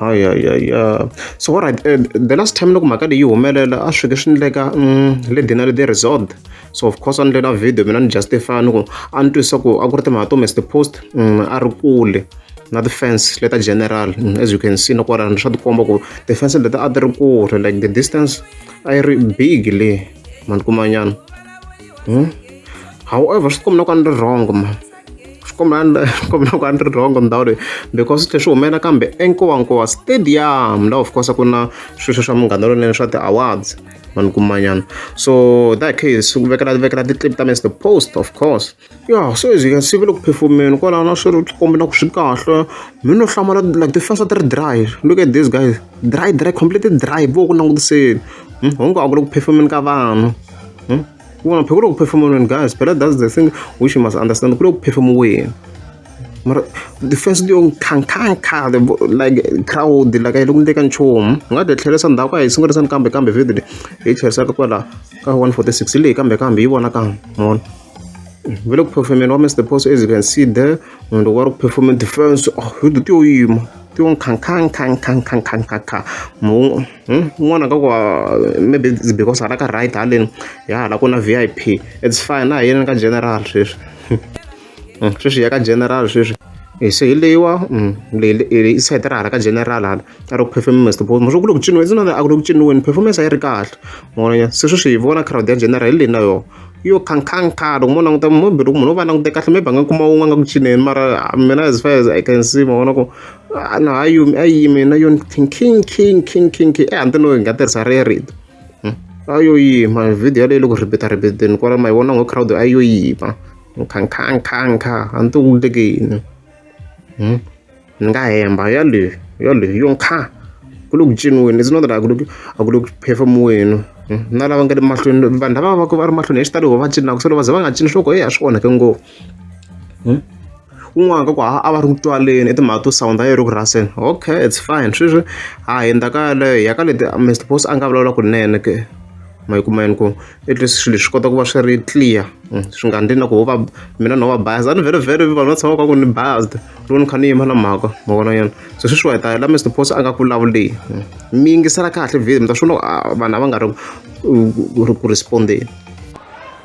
Haya ya ya so wa right the last time loko mhaka leyi yi humelela a swi ke swi endleka le Denali the resort so of course a ni endlela video mina ni justify ni ku a ni twisa ku a ku ri timhaka to Mister Post a ri kule na ti-fans leta general as you can see na kwalano swa tikomba ku ti-fans leta a ti ri kule like the distance a yi ri big le mani kumanyana however swi tikomba na ku a ni ri wrong ma. kombela kombela ku a ni ri wrong ndhawu leyi because swi tlhe swi humelela kambe enkowankowa stadium la of course ku na sweswo swa munghana lonene swa ti-awards vanhu kumanyana so that case ku vekela vekela ti-clip ta mr post of course ya so as you can see va le ku phefumeni kwalaho na swi ri kombi na ku swi kahle mi no hlamala like ti fasa ti ri dry look at this guys dry dry completely dry vo ku langutiseni hungu a ku le ku phefumeni ka vanhu wena phiko loko perform wena guys but that's the thing which you must understand ku loko perform wena mara defense leyo nkhankhankha like crowd like a yi loko ndleka nchumu hi nga ti tlherisa ndhawu ka hi sungurisani kambe kambe video leyi hi tlherisaka kwala ka 146 leyi kambe kambe yi vona kambe mona ve le ku performeni wa mr post as you can see there munhu loko wa ri ku performeni defense oh hi ti yo yima ti yo nkhankhankhankhankhankhankha mu Hmm? un'wana ka ku maybe because hala ka right haleni ya hala ku na v i p its fine a hi yeleni ka general sweswi hmm, sweswi ya ka general sweswi eh, se hi leyiwa hmm, i sete ra hala ka general hala a ri ku performance bo maswo ku le ku ciniweni it's not a ku le ku ciniweni performance a yi ri kahle moya se sweswi hi vona crowd ya general hi leyi na yona yo khankhankha loko mo languta mobili ku munhu u va langute kahle maybe a nga kuma wun'we a nga ku cineni mara mina as far as i can see ma vona ku a no a yimi a yimi na yona thinking king king king king ehanti no hi nga tirhisa re rito hmm? a yo yima video yaleyo loko ribita ribiteni kwala ma yi vona ngo crowd a yo yima nkhankhankhankha a ni ti wuleke yini hmm? ni nga hemba yaleyo yaleyo yo nkha ku le ku ciniweni it's not that a ku le a ku le ku phefemuweni hmm? na lava nga le mahlweni vanhu lava va ku va ri mahlweni hi xitalo va cinaka se lo va ze va nga cini swo ko e a swi onhake ngopfu kun'wana ka ku a va ri ku twaleni i timhaka to sound yi ri ku rhaseni okay it's fine sweswi ha hundza ka yaleyo hi ya ka leti Mister Boss a nga vulavula kunene ke ma yi kuma yini ku at least swilo swi kota ku va swi ri clear mm, swi nga ndli na ku ho va mina no va bias a ni very very vanhu va tshama ka ku ni biased loko ni kha ni yima na mhaka ma vona yona se sweswi wa hi ta la Mister Boss a nga ku vulavuli mm. mi yingisela kahle video mi ta swi vona ah, vanhu a va nga ri ku respondeni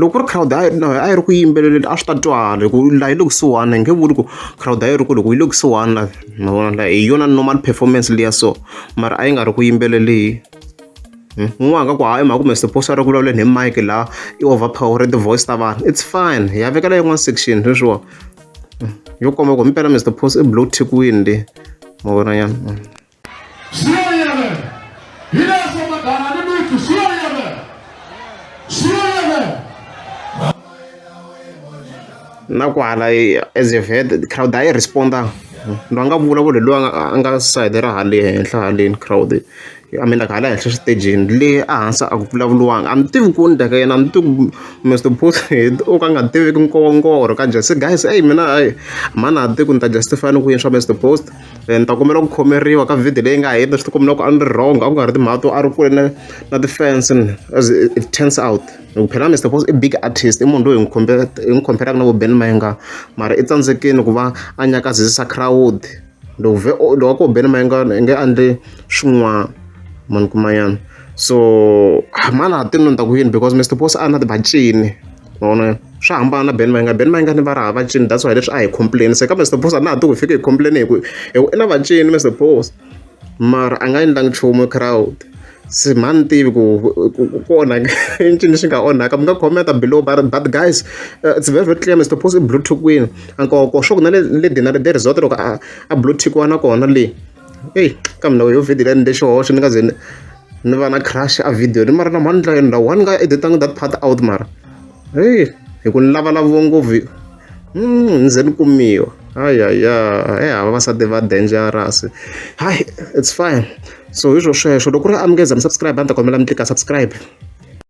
Loko ku ri crowd a yi a yi ri ku yimbeleleni a swi ta twala hi ku laha yi le kusuhana hi nge vuli ku crowd a yi ri kule hi ku yi le kusuhani la ma vona la hi yona normal performance liya so mara a yi nga ri ku yimbeleleni un'wana a nga ku hayi hi mhaka ku me suppose a ri ku vulavuleni hi mic laha i over power ti-voice ta vanhu it's fine hi ya vekela yin'wana section sweswiwa yo komba ku himpela Mister Post i blow thekiwini le ma vona nyana. Siyoyebe. Ile sema kanani mtu siyoyebe. Siyoyebe. na kwala as if head crowd a yi responda ndo a nga vulavuli loyi a nga- a nga side ra hale henhla haleni crowd a mean like hala henhla xitejini le a hansi a ku vulavuliwanga a mi tivi ku ni daka yena a mi tivi ku mr bot o ka nga tiviki nkowonkoro ka just guys eyi mina ayi mhani a tivi ku ni ta justify ni ku yini swa mr post Then ni ta kombela ku khomeriwa ka video leyi nga heta ni swi tikumela ku a ni ri wrong a ku nga ri timhaka to a ri kule na na ti-fans as it turns out hi ku phela Mister Boss i big artist i munhu loyi hi n'wi khombe hi n'wi khomberaka na vo Ben Mayenga mara i tsandzekile ku va a nyakazisa crowd loko vhe loko a ko Ben Mayenga i nge endle swin'wana mani kuma yena so mani a ti ni ta ku yini because Mister Boss a na ti bacini. ma vona swa hambana na ben mayinga ben mayinga ni va raha vacini that's why leswi a hi complain se ka mr boss a na ha ti ku fike hi complain hi ku i na vacini mr boss mara a nga endlangi nchumu crowd se mhani tivi ku ku onhaka i ncini lexi nga onhaka mi nga commenta below but, but guys uh, it's very very clear mr post i blue tick wini ankoko swa ku na le le dinari de resort loko a, a blue tick wana kona le Eyi ka mina yo video liya ni endle xihoxo ni nga ze ni ni va na crush a video ni mara namuntlha endla why ni nga editanga that part out mara heyi hi ku ni lavalaviwa ngopfu hmm, ni ze ni kumiwa ayaya he eh, hava vasati va dangerous hayi it's fine so hi swo sweswo loko ku ri amukeza mi subscribe a ni ta kombela mi tlika subscribe